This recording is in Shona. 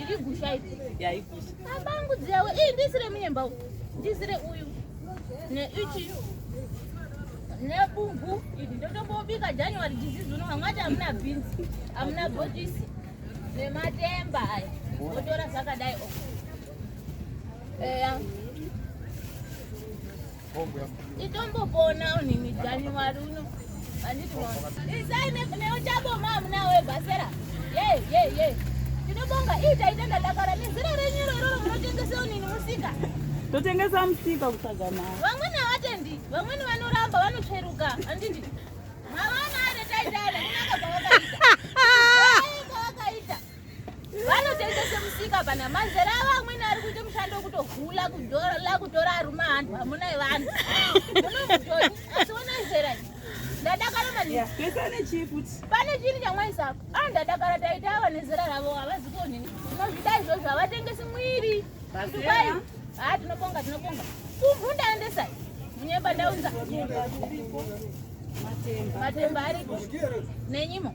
iri gusha iri yaigusha abangu dzawo iyi ndisire munyemba ndisire uyu neichi nebumbu iri ndotombobika january disease uno vamwe ati hamuna beans hamuna botisi nematemba aya otora zvakadai o eya Itombopona unini January uno. Anditi mwana. Isai neuchaboma hamuna we basera. Yey yey yey. Tinobonga ita ita ndadakara nezira renyuro iroro munotengesa unini musika. Totengesa musika kusagama. Vamweni havatendi, vamweni vanoramba vanotsveruka. Anditi. Mavana are taitale kunaka kwavakaita. vanotengese musika pana mazera avo amweni ari kuita mushando wekutohula kudola kutora aruma hanhu hamuna vanhu munomutoni asi ona zera ndadakara manipane chini chamwaisapo a ah, ndadakara taita ava nezera ravo havazi kuonini tinozvida izvozvo havatengesi mwiri tukwai ha ah, tinobonga tinobonga kumhu ndaendesai munyemba ndaunza matemba ariko nenyimo